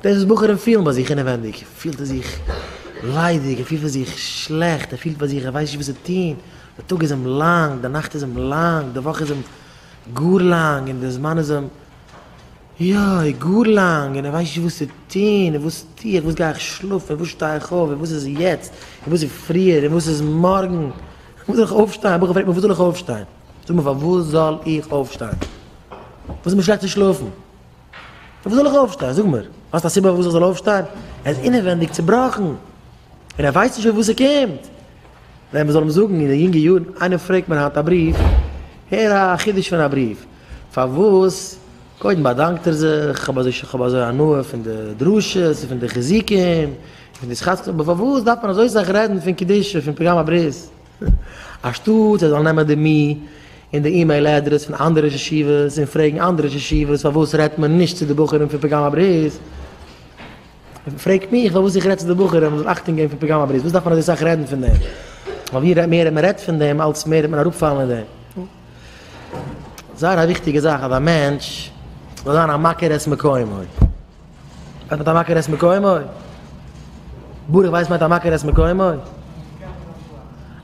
דאס וואס בחורים פילן ביי זיך אינעווענדיג, פילט ער זיך ליידיג, ער פילט ביי זיך שלעכט, ער פילט ביי זיך ער ווייסט נישט וואס צו טון, די טאג איז אים לאנג, די נאכט איז אים לאנג, די וואך איז אים גאר לאנג, און די זמן איז אים, יוי, גאר לאנג, און ער ווייסט נישט וואס צו טון, און וואס טו איך, וואס גיי איך שלאפן, און וואס שטיי איך אויף, און וואס איז יעצט, און וואס איז פריער, און וואס איז מארגן, וואס זאל איך אויפשטיין, א בחור פרעגט מיר וואס זאל איך אויפשטיין, זאג מיר פארוואס זאל איך אויפשטיין, וואס איז מיר שלעכט צו שלאפן. פון וואס זאל איך אויפשטיין? זאג מיר, האסט א סיבה פארוואס איך זאל אויפשטיין? ער איז אינעווענדיג צעבראכן, און ער ווייסט נישט פון וואס ער קומט. ווען מ'זאל אים זאגן אין די יונגע יארן, איינער פרעגט מיר היינט א בריוו, הער א חידוש פון א בריוו, פארוואס? קודם באדאנקט ער זיך, כ'האב אזוי כ'האב אזוי הנאה פון די דרשות און פון די חיזוקים און פון די סכת, אבער פארוואס דארף מען אזוי סאך רעדן פון קדושה, פון פגם הברית? אנשטאט זיי זאלן נעמען די מי און די אימעיל אדרעס פון אנדערע ישיבות און פרעגן אנדערע ישיבות פארוואס רעדט מען נישט צו די בחורים פון פגם הברית, פרעגט מיך פארוואס איך רעד צו די בחורים מען זאל אכטונג געבן פון פגם הברית, וואס דארף מען אזוי סאך רעדן פון דעם? ווייל ווי מער מען רעדט פון דעם אלץ מער וועט מען אראפפאלן אין דעם. זייער א וויכטיגע זאך אז א מענטש זאל זיין א מכיר את מקומו. מיינט מיט א מכיר את מקומו? ברוך ווייס מיינט א מכיר את מקומו?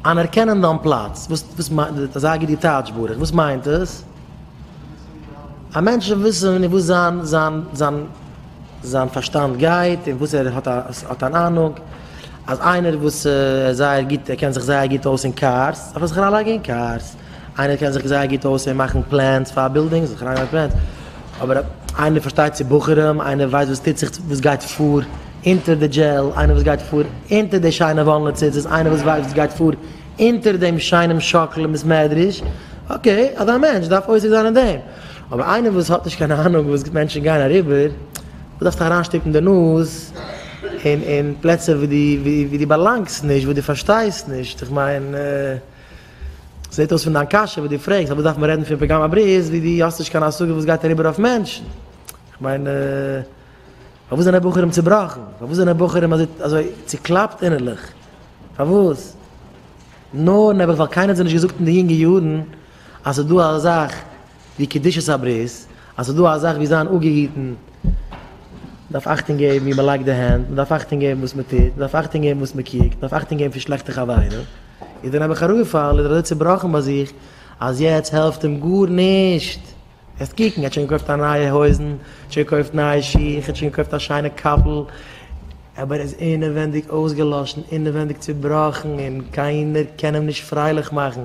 אנערקענען דיין פלאץ, וואס וואס מיינט דאס? זאג די טייטש ברוך, וואס מיינט דאס? א מענטש זאל וויסן אין וואס זיין זיין זיין זיין פארשטאנד גייט, אין וואס ער האט א האט אן אהנונג, אז איינער וואס איז זייער גוט, ער קען זיך זייער גוט אויס אין קארס, זאל ער זיך אריינלייגן אין קארס, איינער קען זיך זייער גוט אויס אין מאכן פלענס פאר בילדינגס, זיך אריינלייגן אין פלענס, אבער איינער פארשטייט צו בחורים, איינער ווייסט וואס טוט זיך, וואס גייט פאר אונטער די דזשעל, איינער וואס גייט פאר אונטער די שיינע וואלנע ציצית, איינער וואס ווייסט וואס גייט פאר אונטער דעם שיינעם שאקל אין בית מדרש, אקעי, אזא מענטש דארף עוסק זיין אין דעם, אבער איינער וואס האט נישט קיין אהנונג וואס מענטשן גייען אריבער, דו דארפסט אריינשטופן די נאז אין פלעצער וואו דו באלאנגסט נישט, וואס דו פארשטייסט נישט, איך מיין. זעט אויס פון דיין קשיא וואס דו פרעגסט אז וואס דארף מען רעדן פון פגם הברית ווי דו האסט נישט קיין השגה וואס גייט אריבער אויף מענטשן. כ'מיין פארוואס זענען בחורים צובראכן? פארוואס זענען בחורים אזוי צוקלאפט אינערליך? פארוואס? נו, נעבעך ווייל קיינער האט זיי נישט געזאגט אין די יונגע יארן אז ס'איז דא א זאך ווי קדושת הברית, אז ס'איז דא א זאך ווי זיין אפגעהיטן, מ'דארף אכטונג געבן ווי מ'לייגט די הענט, מ'דארף אכטונג געבן וואס מ'טוט, מ'דארף אכטונג געבן וואס מ'קוקט, מ'דארף אכטונג געבן פון שלעכטע חברים, איז דער נעבעך אראפגעפאלן, איז ער אזוי צובראכן ביי זיך, אז יעצט העלפט אים גארנישט. העסט קוקן, ער האט שוין געקויפט א נייע הויזן, האט שוין געקויפט נייע שיך, האט שוין געקויפט א שיינע קאפל, אבער ער איז אינעווענדיג אויסגעלאשן, אינעווענדיג צובראכן, און קיינער קען אים נישט פרייליך מאכן,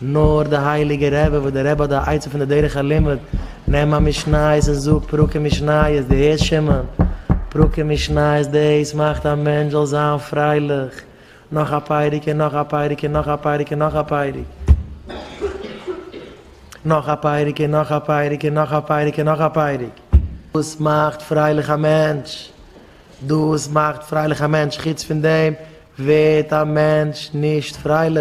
נאר די הייליגע רבי וואס דער רבי האט די עצה פון די דרך הלימוד, נעם א משניות און זאג פרקים משניות, דו הערסט שמעון? פרקים משניות דאס מאכט א מענטש זאל זיין פרייליך, נאך א פרק און נאך א פרק און נאך א פרק און נאך א פרק, נאך א פרק און נאך א פרק און נאך א פרק און נאך א פרק, דאס מאכט פרייליך א מענטש, דאס מאכט פרייליך א מענטש, חוץ פון דעם ווערט א מענטש נישט פרייליך.